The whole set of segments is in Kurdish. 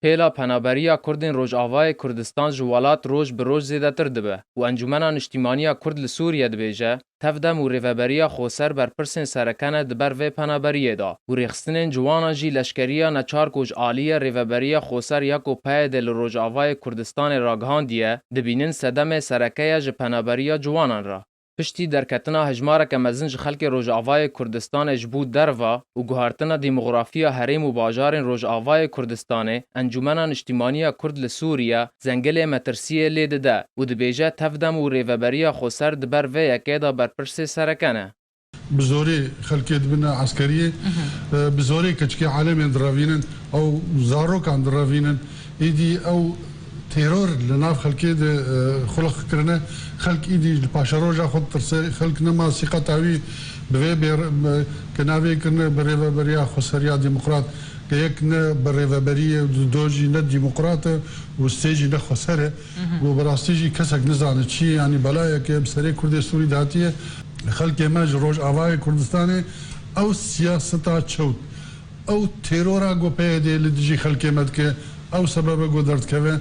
Hêla penaberiya Kurdên Rojavayê Kurdistan ji welat roj bi roj zêdetir dibe û Encûmena Niştîmaniya Kurd li Sûriyê dibêje, tevdem û rêveberiya xweser berpirsên sereke ne di ber vê penaberiyê de û rêxistinên ciwanan jî leşkeriya neçar ku ji aliyê rêveberiya xweser ya ku PYD'ê li Rojavayê Kurdistanê ragihandiye, dibînin sedemê sereke ye ji penaberiya ciwanan re. piştî derketina hejmareke mezin ji xelkê Rojavayê Kurdistanê ji bo derva û guhertina demografiya herêm û bajarên Rojavayê Kurdistanê, Encûmena Niştîmanî ya Kurd li Sûrîye Zengilê metirsîyê lê dide û dibêje tevdem û rêveberiya xoser di ber vê yekê de berpirsê sereke ne. Bi zorê xelkê dibine eskerîyê, bi zorê keçikê alemên direvînin ew zarokan direvînin, îdî ew Teror li nav xelkê de xulix kirine. Xelk îdî li paşeroja xwe ditirse. Xelk nema sîqeta wî bi vê bê ke navê kirine bi rêveberiya xweseriya demokrat ke yek ne bi rêveberî ye û do jî ne demokrat e û sê jî ne xweser e û bi rastî jî kesek nizane çi ye yanî belayeke bi serê kurdê sûrî de hatiye. Xelkê me ji rojavayê Kurdistanê ew siyaseta çewt Ew têrora ku PYD'ê li dijî xelkê me dike, ew sebeb e ku derdikeve.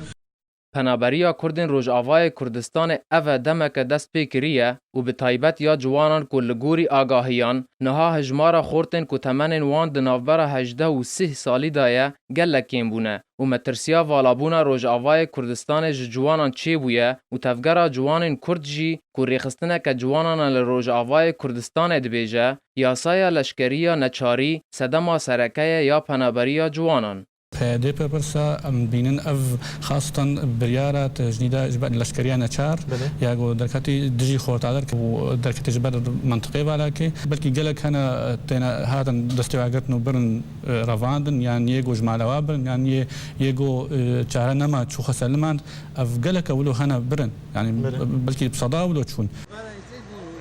Penaberiya Kurdên Rojavayê Kurdistanê ev e demeke dest pê kiriye û bi taybet ya ciwanan ku li gorî agahiyan niha hijmara xortên ku temenên wan di navbera hejdeh û sih salî de ye gelek kêm bûne û metirsiya valabûna Rojavayê Kurdistanê ji ciwanan çêbûye û Tevgera Ciwanên Kurd jî ku rêxistineke ciwanan e li Rojavayê Kurdistanê dibêje Yasaya leşkeriya neçarî sedema sereke ye ya penaberiya ciwanan. Dê bipirse, em dibînin ev xastan biryara tejnî da ji ber leşkeriya neçar ya ku derketî dijî xortadir û derketî ji ber mintiqê Valakê. Belkî gelek hene têne hatin destêwagirtin û birin revandin yan yê ku ji mala wan birin yan yê yê ku çare nema çû xwe ser limand. Ev geleke wilo hene birin yanî belkî bi seda wilo çûn.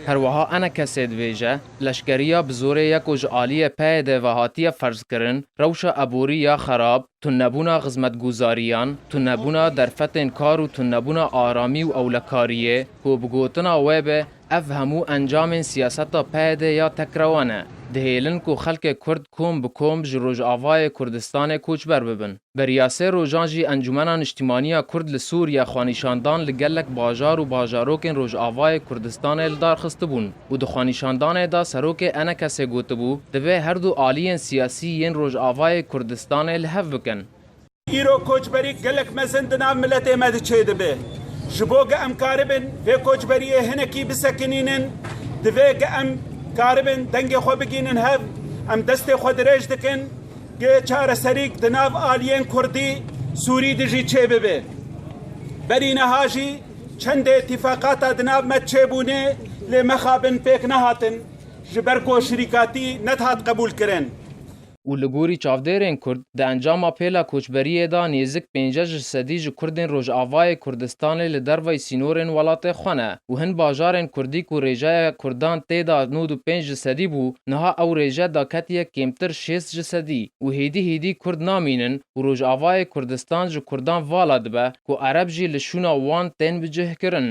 Herweha ene kesê dibêje, leşkeriya bi zorê ye ku ji aliyê peyê de ve hatiye ferzkirin, rewşa eborî ya xerab, tunnebûna xizmetguzariyan, tunnebûna derfetên kar û tunnebûna aramî û ewlekariyê, ku bi gotina wê be ev hemû encamên siyaseta peyê de ya tekrewa ne, dihêlin ku xelkê Kurd kom bi kom ji Rojavayê Kurdistanê koçber bibin. Beriya sê rojan jî Encûmena Niştîmanî ya Kurd li Sûrîye xwenîşandan li gelek bajar û bajarokên Rojavayê Kurdistanê li dar xistibûn û di xwenîşandanê de Serokê Enekesê gotibû, divê her du aliyên siyasî yên Rojavayê Kurdistanê li hev bikin. Îro koçberî gelek mezin di nav miletê me de çêdibe. Ji bo ge em karibin vê koçberiyê hinekî bisekinînin, divê ge em karibin dengê xwe bigînin hev, em destê xwe dirêj dikin, Dê çareserîk di nav aliyên kurdî, sûrî de jî çêbibe. Berî niha jî çendê îtîfaqata di nav me çêbûne lê mexabin pêk nehatin ji ber ku şirîkatî nedihat qebûlkirin. û li gorî çavdêrên kurd di encama pêla koçberiyê de nêzik pênceh ji sedî ji kurdên rojavayê Kurdistanê li derveyî sînorên welatê xwe ne û hin bajarên kurdî ku rêjeya kurdan tê de nod û pênc ji sedî bû Niha ew rêje da ketiye kêmtir şêst ji sedî û hêdî hêdî Kurd namînin û Rojavayê Kurdistan ji Kurdan vala dibe ku Ereb jî li şûna wan tên bicihkirin.